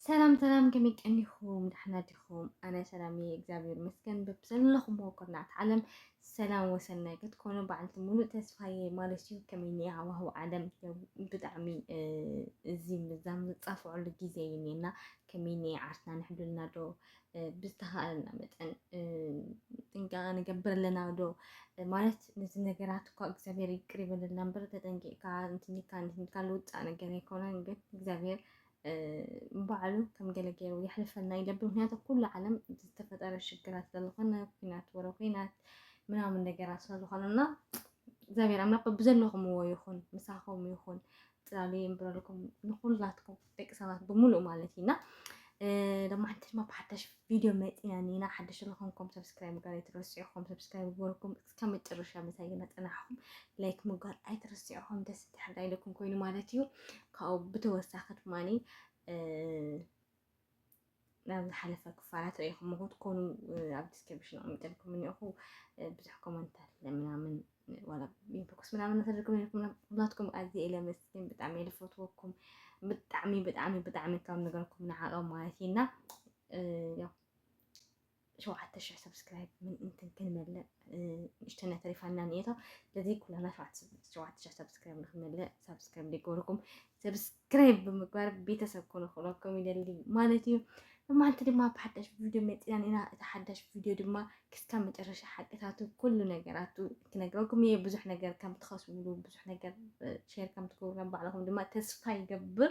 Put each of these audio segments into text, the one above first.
ሰላም ሰላም ከመይ ቀኒኹም ዳሕና ዲኹም? ኣነ ሰላም እየ እግዚኣብሔር ይመስገን። በብዘለኹሞ ኩርናዕቲ ዓለም ሰላም ወሰናይ ክትኮኑ በዓልቲ ሙሉእ ተስፋ እየ ማለት እዩ። ከመይ እኒኣ ሃዋህው ዓለም ብጣዕሚ እዚ ምዛም ዝፃፍዐሉ ግዜ እዩ እኒኤና። ከመይ እኒኤ ዓርስና ንሕብለልና ዶ ብዝተኻእለና መጠን ጥንቃቐ ንገብር ኣለና ዶ ማለት ነዚ ነገራት እኳ እግዚኣብሔር ይቅር ይበለልና እምበር ተጠንቂቕካ እንትንካ እንትንካ ልውፃእ ነገር ኣይኮነን ግን እግዚኣብሔር ባዕሉ ከም ገለ ገይሩ የሕልፈልና ይደብ ምክንያቱ ኩሉ ዓለም ዝተፈጠረ ሽግራት ስለዝኾነ ኩናት ወረ ኩናት ምናምን ነገራት ስለዝኾነ እና እግዚኣብሔር ኣምላኽ ብዘለኹምዎ ይኹን ምሳኹም ይኹን ፅላሉ የንብረልኩም ንኩላትኩም ደቂ ሰባት ብምሉእ ማለት እዩ እና ደማ ሓንቲ ድማ ብሓዳሽ ቪድዮ መፂና ኒና ሓደሽ ዝኾንኩም ሰብስክራይብ ምግባር ኣይትረስዕኹም ሰብስክራይብ ምግበርኩም እስከ መጨረሻ ምሳይ መፅናሕኹም ላይክ ምግባር ኣይትረስዕኹም ደስ ትሕዳ ኢለኩም ኮይኑ ማለት እዩ ካብኡ ብተወሳኺ ድማ ናብ ዝሓለፈ ክፋላት ርኢኹም ክትኮኑ ኣብ ዲስክሪፕሽን ኣቐሚጠልኩም እኒኦኹ ብዙሕ ኮመንታት ለምናምን ዋላ ኢንቦክስ ምናምን ተደርኩም ኢልኩም ኩላትኩም ኣዝየ ኢለ መስኪን ብጣዕሚ ኢለ ፈትወኩም ብጣዕሚ ብጣዕሚ ብጣዕሚ ካብ ነገርኩም ንዓቐብ ማለት እዩና ያው ሸውዓተ ሽሕ ሰብስክራይብ ምእንትን ክንመልእ ንእሽተና ተሪፋና ንኤቶ ስለዚ ኩላና ሸውዓተ ሽሕ ሰብስክራይብ ንክንመልእ ሰብስክራይብ ዘይገበርኩም ሰብስክራይብ ብምግባር ቤተሰብ ኮኑ ክብለኩም ይደሊ ማለት እዩ ብማዓልቲ ድማ ብሓዳሽ ቪድዮ መፂናን ኢና እቲ ሓዳሽ ቪድዮ ድማ ክስካብ መጨረሻ ሓቅታቱ ኩሉ ነገራቱ ክነግረኩም እየ ብዙሕ ነገር ከም ትኸስብሉ ብዙሕ ነገር ሼር ከም ትገብሩ ባዕልኹም ድማ ተስፋ ይገብር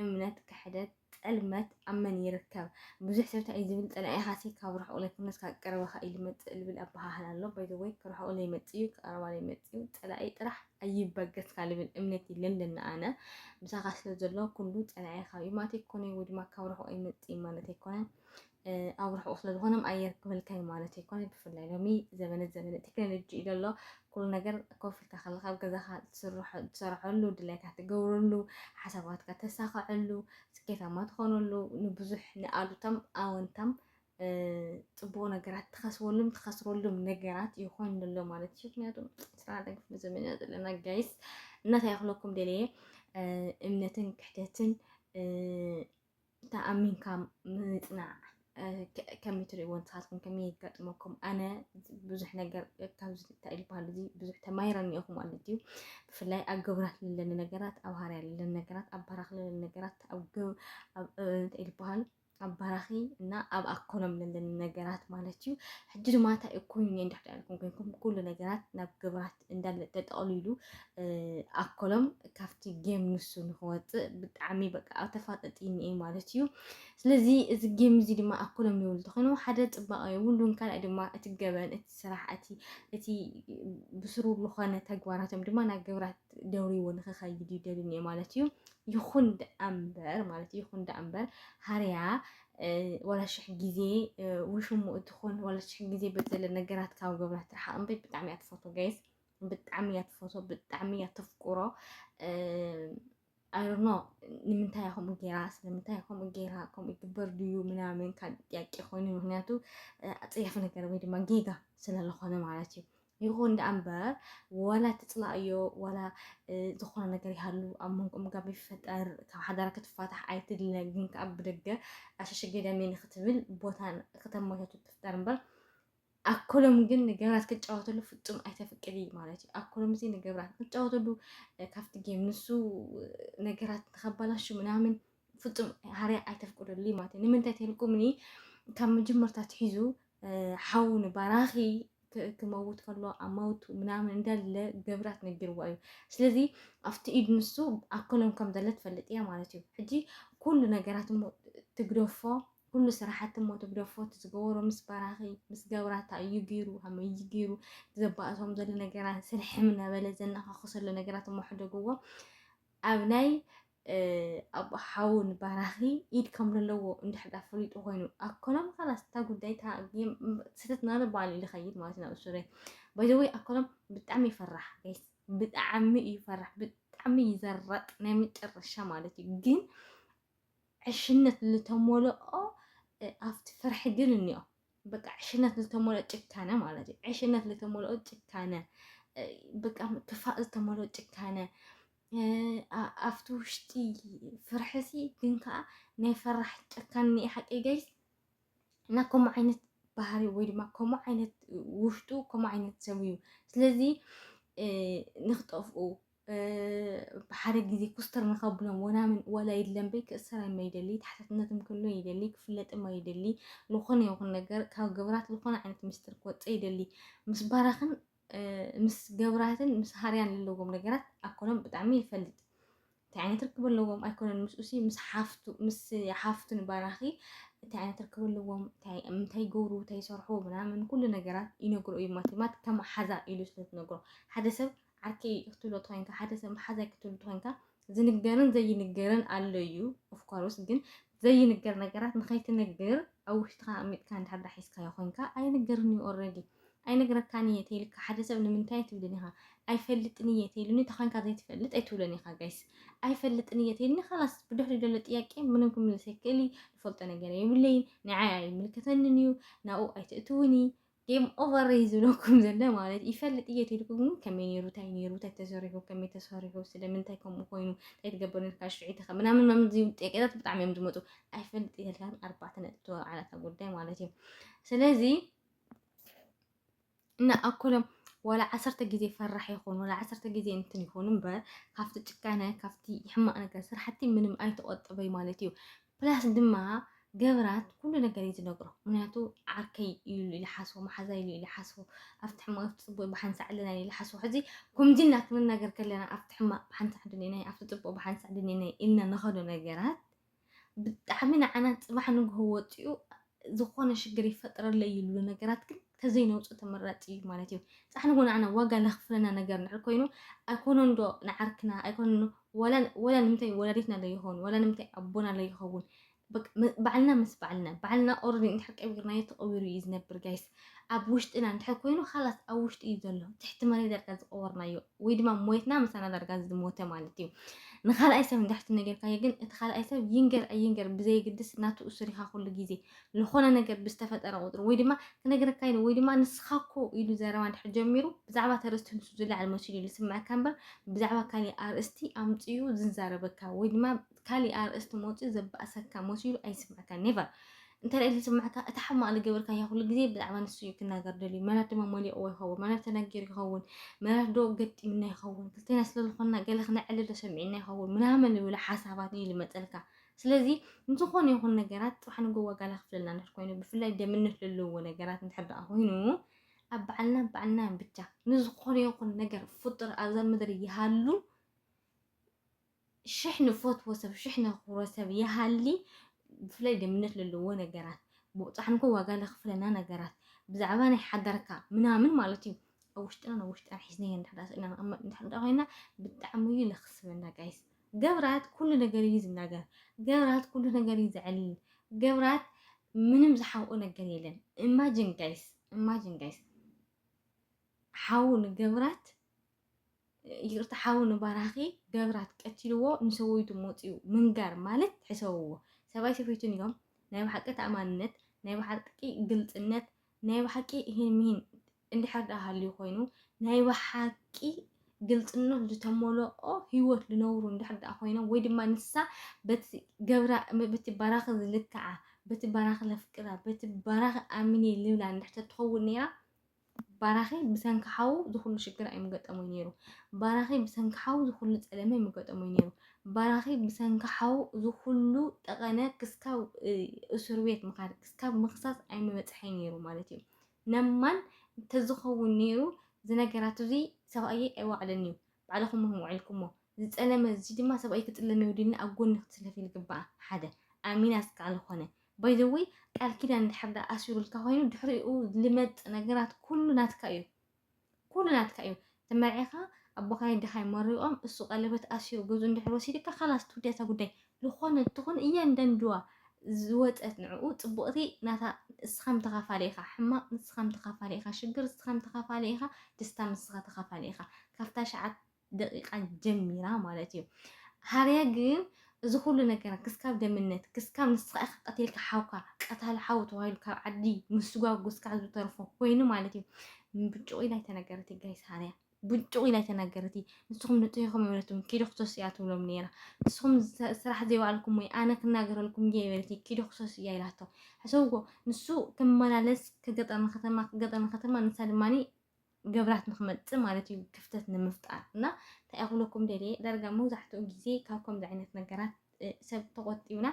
እምነት ክሕደት ጥልመት ኣብ መን ይርከብ? ብዙሕ ሰብ እንታይ እዩ ዝብል ጸላኢኻሲ ካብ ርሑቕ ዘይኮነስ ካብ ቀረባኻ እዩ ዝመጽእ ዝብል ኣበሃህላ ኣሎ። ባይ ዘ ወይ ክርሑቕ ዘይመጽእ እዩ ክቀረባ ዘይመጽእ እዩ ጸላኢ ጥራሕ ኣይበገስካ ዝብል እምነት እዩ ለለና ኣነ ምሳኻ ስለ ዘሎ ኩሉ ጸላኢኻ እዩ ማለት ኣይኮነን ወይ ድማ ካብ ርሑቕ ኣይመጽእ ማለት ኣይኮነን ኣብ ርሑቕ ስለ ዝኾኖም ኣየር ክብልካዩ ማለት ኣይኮነ ብፍላይ ሎሚ ዘበነ ዘበነ ቴክኖሎጂ እዩ ዘሎ ኩሉ ነገር ኮፍ ኢልካ ከለካ ኣብ ገዛካ ትሰርሐሉ ድላይካ ትገብረሉ ሓሳባትካ ተሳኸዐሉ ስኬታማ ትኾነሉ ንብዙሕ ንኣሉታም ኣወንታም ፅቡቅ ነገራት ትኸስበሉም ትኸስረሉም ነገራት ይኾን ኣሎ ማለት እዩ ምክንያቱ ስራ ደግፍ ዘመን ዘለና ጋይስ እናታይ ክለኩም ደለየ እምነትን ክሕደትን ተኣሚንካ ምጽናዕ ከመይ ትርእይዎ ንስኻትኩም ከመይ ይገጥመኩም ኣነ ብዙሕ ነገር ካብዚ እንታይ ዝበሃል እዚ ብዙሕ ተማሂረ እኒኦኹ ማለት እዩ ብፍላይ ኣብ ግብራት ለለኒ ነገራት ኣብ ሃርያ ለለኒ ነገራት ኣብ በራኽ ለለኒ ነገራት ኣብ እንታይ ዝበሃል ኣብ በራኺ እና ኣብ ኣኮኖም ለለኒ ነገራት ማለት እዩ ሕጂ ድማ እንታይ እዩ ኮይኑ እንድሕዳ ኢልኩም ኮይንኩም ኩሉ ነገራት ናብ ግብራት እንዳለ ተጠቕሊሉ ኣኮሎም ካብቲ ጌም ንሱ ንክወፅእ ብጣዕሚ በቃ ተፋጠጢኒ እየ ማለት እዩ ስለዚ እዚ ጌም እዚ ድማ ኣኮሎም ይብሉ ተኮይኑ ሓደ ፅባቐ የብሉን ካልኣይ ድማ እቲ ገበን እቲ ስራሕ እቲ እቲ ብስሩ ዝኾነ ተግባራቶም ድማ ናብ ግብራት ደውሪዎ ንክኸይድ ይደልን እየ ማለት እዩ ይኹን ደኣ እምበር ማለት እዩ ይኹን ደኣ እምበር ሃርያ ዋላ ሽሕ ግዜ ውሽሙ እትኾን ዋላ ሽሕ ግዜ በዘለ ነገራት ካብ ገብራ ትርሓቕ እምበይ ብጣዕሚ እያ ትፈቶ ጋይስ ብጣዕሚ እያ ትፈቶ ብጣዕሚ እያ ተፍቁሮ ኣይሮኖ ንምንታይ እያ ከምኡ ጌራ ስለምንታይ ከምኡ ጌራ ከምኡ ይግበር ድዩ ምናምን ካብ ጥያቄ ኮይኑ ምክንያቱ ኣፀያፊ ነገር ወይ ድማ ጌጋ ስለዝኾነ ማለት እዩ ይኹን ደኣ እምበር ዋላ ትፅላእዮ ዋላ ዝኾነ ነገር ይሃሉ ኣብ መንጎኦም ጋብ ይፈጠር ካብ ሓዳራ ክትፋታሕ ኣይትድለ ግን ከዓ ብደገ ኣሸሸ ገዳሜ ንክትብል ቦታ ከተመቻቹ ትፍጠር እምበር ኣኮሎም ግን ንገብራት ክጫወተሉ ፍጹም ኣይተፍቅዲ ማለት እዩ ኣኮሎም እዚ ንገብራት ክጫወተሉ ካብቲ ጌም ንሱ ነገራት ንከባላሹ ምናምን ፍጹም ሃርያ ኣይተፍቅደሉይ ማለት እዩ ንምንታይ ተልኩምኒ ካብ መጀመርታ ትሒዙ ሓው ንባራኺ ክመውት ከሎ ኣብ መውቱ ምናምን እንዳለ ገብራት ነጊርዎ እዩ ስለዚ ኣብቲ ኢድ ንሱ ኣከሎም ከም ዘለ ትፈልጥ እያ ማለት እዩ ሕጂ ኩሉ ነገራት እሞ ትግደፎ ኩሉ ስራሓት እሞ ትግደፎ እቲ ዝገበሮ ምስ ባራኺ ምስ ገብራታ እዩ ገይሩ ሃመይ እዩ ገይሩ ዘባእሶም ዘሎ ነገራት ስርሕም እናበለ ዘናኻኽሰሎ ነገራት እሞ ሕደግዎ ኣብ ናይ ኣቦ ሓውን ባራኺ ኢድ ከም ዘለዎ እንድሕር ዳ ፈሊጡ ኮይኑ ኣኮሎም ካላስ እታ ጉዳይ ስህተት ናለ በዓል ልኸይድ ማለት ናብ ሱረ ባይዘወይ ኣኮሎም ብጣዕሚ ይፈራሕ ጋይስ ብጣዕሚ እዩ ፈራሕ ብጣዕሚ ይዘረጥ ናይ መጨረሻ ማለት እዩ ግን ዕሽነት ዝተሞልኦ ኣብቲ ፍርሒ ግን እኒኦ በቃ ዕሽነት ዝተሞልኦ ጭካነ ማለት እዩ ዕሽነት ዝተሞልኦ ጭካነ በቃ ክፋእ ዝተሞልኦ ጭካነ ኣብቲ ውሽጢ ፍርሕሲ ግን ከዓ ናይ ፈራሕ ጨካን ኒኢ ሓቂ ገይስ እና ከምኡ ዓይነት ባህሪ ወይ ድማ ከምኡ ዓይነት ውሽጡ ከምኡ ዓይነት ሰብ እዩ ስለዚ ንክጠፍኡ ብሓደ ግዜ ኩስተር ንከብሎም ወናምን ወላ ይድለምበይ ክእሰራይማ ይደሊ ተሓታትነትም ክህሉ ይደሊ ክፍለጥማ ይደሊ ዝኾነ ይኹን ነገር ካብ ግብራት ዝኾነ ዓይነት ምስጢር ክወፀ ይደሊ ምስ ባራኽን ምስ ገብራትን ምስ ሃርያን ለለዎም ነገራት ኣኮሎም ብጣዕሚ ይፈልጥ እንታይ ዓይነት ርክብ ኣለዎም ኣይኮነን ምስኡሲ ምስ ሓፍቱ ምስ ሓፍቱ ንባራኺ እንታይ ዓይነት ርክብ ኣለዎም እንታይ ይገብሩ እንታይ ይሰርሑ ምናምን ኩሉ ነገራት ይነግሮ እዩ ማቲማት ከም ሓዛ ኢሉ ስለትነግሮ ሓደ ሰብ ዓርከይ ክትብሎ ተኮይንካ ሓደ ሰብ ሓዛይ ክትብሉ ተኮይንካ ዝንገርን ዘይንገርን ኣሎ እዩ ኦፍኮርስ ግን ዘይንገር ነገራት ንኸይትነግር ኣብ ውሽጥካ ኣሚጥካ እንድሕር ዳ ሒዝካዮ ኮንካ ኣይንገርን እዩ ኦልሬዲ ኣይነግረካን እየ ተይልካ ሓደ ሰብ ንምንታይ ትብልን ኢኻ ኣይፈልጥን እየ ተይሉኒ ተኾንካ ዘይትፈልጥ ኣይትብለን ኢኻ ጋይስ ኣይፈልጥን እየ ተይልኒ ካላስ ብድሕሪ ደሎ ጥያቄ ምንም ክምልስ ኣይክእል ዝፈልጦ ነገር የብለይን ንዓይ ኣይምልከተንን እዩ ናብኡ ኣይትእትውኒ ጌም ኦቨር እዩ ዝብለኩም ዘለ ማለት ይፈልጥ እየ ትልኩም ግን ከመይ ነይሩ እንታይ ነይሩ እንታይ ተሰሪሑ ከመይ ተሰሪሑ ስለምንታይ ከምኡ ኮይኑ እንታይ ትገብር ነርካ ሽዒትኸ ምናምን ምናምን ዝብል ጥያቄታት ብጣዕሚ እዮም ዝመፁ ኣይፈልጥ እየልካን ኣርባዕተ ነጥቢ ተወዓላታ ጉዳይ ማለት እዩ ስለዚ እና ኣኮሎም ዋላ ዓሰርተ ግዜ ፈራሕ ይኹን ዋላ ዓሰርተ ግዜ እንትን ይኹን እምበር ካብቲ ጭካነ ካብቲ ሕማቅ ነገር ስራሕቲ ምንም ኣይተቆጥበይ ማለት እዩ ፕላስ ድማ ገብራት ኩሉ ነገር እዩ ዝነግሮ ምክንያቱ ዓርከይ እዩ ኢሉ ሓስቦ መሓዛ ኢሉ ኢሉ ሓስቦ ኣብቲ ሕማቅ ኣብቲ ፅቡቅ ብሓንሳዕ ኣለና ኢሉ ሓስቦ ሕዚ ኩምዚና ክንናገር ከለና ኣብቲ ሕማቅ ብሓንሳዕ ድኔናይ ኣብቲ ፅቡቅ ብሓንሳዕ ድኔናይ ኢልና ንኸዶ ነገራት ብጣዕሚ ንዓና ፅባሕ ንግሆ ወፂኡ ዝኾነ ሽግር ይፈጠረለይ ዝብሉ ነገራት ግን ተዘይነውጽእ ተመራጺ እዩ ማለት እዩ። ጻሕንጎ ንዓና ዋጋ ለኽፍለና ነገር እንድሕር ኮይኑ ኣይኮነን ዶ ንዓርክና ኣይኮነን ዋላ ዋላ ንምንታይ ወላዲትና ዶ ይኸውን ዋላ ንምንታይ ኣቦና ዶ ይኸውን በቃ ባዕልና ምስ ባዕልና ባዕልና ኦረዲ እንድሕር ቀቢርናዮ ተቐቢሩ እዩ ዝነብር ጋይስ። ኣብ ውሽጥና እንድሕር ኮይኑ ኻላስ ኣብ ውሽጢ እዩ ዘሎ ትሕቲ መሬት ዳርጋ ዝቐበርናዮ ወይ ድማ ሞትና ምሳና ዳርጋ ዝሞተ ማለት እዩ ንኻልኣይ ሰብ እንድሕርቲ ነገርካዮ ግን እቲ ካልኣይ ሰብ ይንገር ኣይንገር ብዘይግድስ ናቱ እሱሪኻ ኩሉ ግዜ ዝኾነ ነገር ብዝተፈጠረ ቁፅሪ ወይ ድማ ክነግረካ ኢሉ ወይ ድማ ንስኻ እኮ ኢሉ ዘረባ እንድሕር ጀሚሩ ብዛዕባ ተርእስቲ ንሱ ዝለዓል መሲሉ እዩ ዝስምዐካ እምበር ብዛዕባ ካሊእ ኣርእስቲ ኣምፅኡ ዝዛረበካ ወይ ድማ ካሊእ ኣርእስቲ መውጺኡ ዘባእሰካ መሲሉ ኣይስምዕካ never እንተ ዝስምዕካ እቲ ሕማቅ ዝገበርካዮ ኩሉ ግዜ ብዛዕባ ንሱ እዩ ክናገር ደልዩ መናት ድማ መሊቕዎ ይኸውን መናት ተናጊሩ ይኸውን መናት ዶ ገጢምና ይኸውን ክልቴና ስለዝኾንና ገለ ክነዕልል ዶ ሰሚዕና ይኸውን ምናምን ዝብሉ ሓሳባት እዩ ዝመፀልካ ስለዚ ንዝኾነ ይኹን ነገራት ጥራሕ ንጎ ዋጋ ላክፍለና ንድሕር ኮይኑ ብፍላይ ደምነት ዘለዎ ነገራት እንድሕር ደኣ ኮይኑ ኣብ በዓልና በዓልና ብቻ ንዝኾነ ይኹን ነገር ፍጡር ኣብዛ ምድሪ ይሃሉ ሽሕ ንፈትዎ ሰብ ሽሕ ነኽብሮ ሰብ ይሃሊ ብፍላይ ደምነት ለለዎ ነገራት ብቑፃሕንኮ ዋጋ ለኽፍለና ነገራት ብዛዕባ ናይ ሓዳርካ ምናምን ማለት እዩ ኣብ ውሽጥናን ኣብ ውሽጥናን ሒዝናዮ እንድሕዳ ስእልና ንቕመጥ እንድሕዳ ኮይና ብጣዕሚ እዩ ለኽስበና ጋይስ ገብራት ኩሉ ነገር እዩ ዝናገር ገብራት ኩሉ ነገር እዩ ዘዕልል ገብራት ምንም ዝሓብኦ ነገር የለን ኢማጅን ጋይስ ኢማጅን ጋይስ ሓው ንገብራት ይቅርታ ሓው ንባራኺ ገብራት ቀቲልዎ ንሰበይቱ ሞፅኡ ምንጋር ማለት ሕሰብዎ ሰባይ ሰበይቱን እዮም ናይ ብሓቂ ተኣማንነት ናይ ብሓቂ ግልፅነት ናይ ብሓቂ ይህን ምሂን እንድሕር ዳ ሃልዩ ኮይኑ ናይ ብሓቂ ግልፅነት ዝተመልኦ ህይወት ዝነብሩ እንድሕር ዳ ኮይኖም ወይ ድማ ንሳ በቲ ገብራ በቲ ባራኺ ዝልክዓ በቲ ባራኺ ለፍቅራ በቲ ባራኺ ኣሚኔ ልብላ እንድሕር ተትኸውን ነይራ ባራኺ ብሰንኪ ሓዉ ዝኹሉ ሽግር ኣይምገጠሞይ ነይሩ ባራኺ ብሰንኪ ሓዉ ዝኹሉ ጸለመ ኣይምገጠሞይ ነይሩ ባራኺ ብሰንኪ ሓዉ ዝኹሉ ጠቐነ ክስካብ እሱርቤት ምኻድ ክስካብ ምኽሳስ ኣይምበጽሐይ ነይሩ ማለት እዩ ነማን ተዝኸውን ነይሩ ዝነገራት እዙይ ሰብኣየይ ኣይዋዕልን እዩ ባዕልኹም ውዒልኩሞ ዝጠለመ እዚ ድማ ሰብኣይ ክጥለም የውዲኒ ኣብ ጎኒ ክትስለፊ ልግባኣ ሓደ ኣሚና ዝካኣል ልኾነ ባይ ዘ ወይ ቃል ኪዳን እንድሕር ዳኣ ኣሲሩልካ ኮይኑ ድሕሪኡ ልመጽእ ነገራት ኩሉ ናትካ እዩ ኩሉ ናትካ እዩ ተመርዒኻ ኣቦኻይ ድኻይ መሪቖም እሱ ቀለበት ኣሲሩ ገዙ እንድሕር ወሲድካ ካላስ ትውዲ እታ ጉዳይ ልኾነ ትኹን እያንዳንድዋ ዝወጸት ንዕኡ ጽቡቕቲ ናታ እስኻም ተኻፋሊ ኢኻ ሕማቕ ንስኻም ተኻፋሊ ኢኻ ሽግር እስኻም ተኻፋሊ ኢኻ ደስታ ምስኻ ተኻፋሊ ኢኻ ካብታ ሸዓት ደቂቃ ጀሚራ ማለት እዩ ሃርያ ግን እዚ ኩሉ ነገር ክስካብ ደምነት ክስካብ ንስኻ ኢኻ ቀቲልካ ሓውካ ቀታሊ ሓው ተባሂሉ ካብ ዓዲ ምስጓጉ እስካብ ዝተርፎ ኮይኑ ማለት እዩ ብጭቑ ኢላ ኣይተነገረት ጋይስ ሃርያ ብጭቑ ኢላ ኣይተነገረት ንስኹም ንጥሂኹም ይበለትም ኪዶ ክሰስ እያ ትብሎም ነይራ ንስኹም ስራሕ ዘይባዕልኩም ወይ ኣነ ክናገረልኩም እየ ይበለት ኪዶ ክሰስ እያ ኢላቶ ሕሰብዎ ንሱ ክመላለስ ከገጠር ንከተማ ከገጠር ንከተማ ንሳ ድማ ገብራት ንክመፅእ ማለት እዩ ክፍተት ንምፍጣር እና እንታይ ክብለኩም ደልየ ዳርጋ መብዛሕትኡ ግዜ ካብ ከምዚ ዓይነት ነገራት ሰብ ተቆጢብና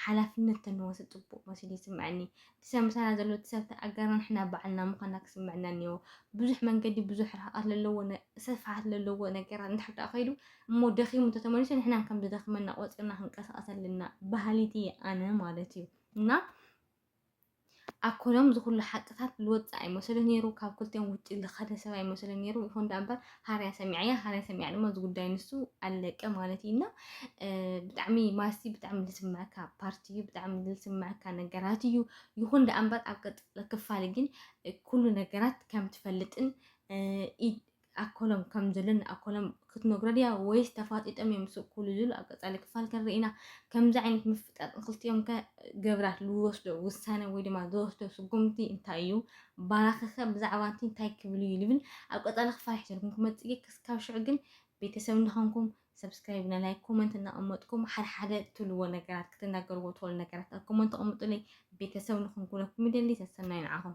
ሓላፍነት ተንወስድ ፅቡቅ መሲሉ ይስምዐኒ ሰብ ምሳና ዘሎ እቲ ሰብ ተኣጋር ንሕና ባዕልና ምኳና ክስምዐና እኒዎ ብዙሕ መንገዲ ብዙሕ ርሕቀት ዘለዎ ስፍሓት ዘለዎ ነገራት እንድሕር ደኣ ከይዱ እሞ ደኺሙ እንተተመሊሱ ንሕና ከም ዝደኽመና ቆፂርና ክንቀሳቀስ ኣለና ባህሊት እየ ኣነ ማለት እዩ እና ኣኮሎም እዚ ኩሉ ሓቅታት ልወጽእ ኣይመሰሉን ነይሩ ካብ ክልቲኦም ውጪ ልኸደ ሰብ ኣይመሰሉን ነይሩ ይኹን ዳኣ እምበር ሃርያ ሰሚዐያ ሃርያ ሰሚዐያ ድማ እዚ ጉዳይ ንሱ ኣለቀ ማለት እዩ እና ብጣዕሚ ማስቲ ብጣዕሚ ልስምዐካ ፓርቲ እዩ ብጣዕሚ ልስምዐካ ነገራት እዩ ይኹን ዳኣ እምበር ኣብ ቀጥሎ ክፋል ግን ኩሉ ነገራት ከም ትፈልጥን ኣኮሎም ከም ዘሎ ንኣኮሎም ክትነግሮ ድያ ወይስ ተፋጢጦም እዮም ዝስብኩሉ ዝብሉ ኣብ ቀጻሊ ክፋል ክንርኢ ኢና። ከምዚ ዓይነት ምፍጣጥ ንክልቲኦም ከ ገብራት ዝወስዶ ውሳነ ወይ ድማ ዝወስዶ ስጉምቲ እንታይ እዩ? ባራኺ ከ ብዛዕባ እቲ እንታይ ክብል እዩ ዝብል ኣብ ቀጻሊ ክፋል ሒዘልኩም ክመጽእ እየ። ክስካብ ሽዑ ግን ቤተሰብ እናኾንኩም ሰብስክራይብ እና ላይክ ኮመንት እናቐመጥኩም ሓደ ሓደ ትብልዎ ነገራት ክትናገርዎ ትኽእሉ ነገራት ኣብ ኮመንት ኣቕምጡለይ ቤተሰብ ንኽንኩነኩም ይደሊ ሰሰናዩ ንዓኹም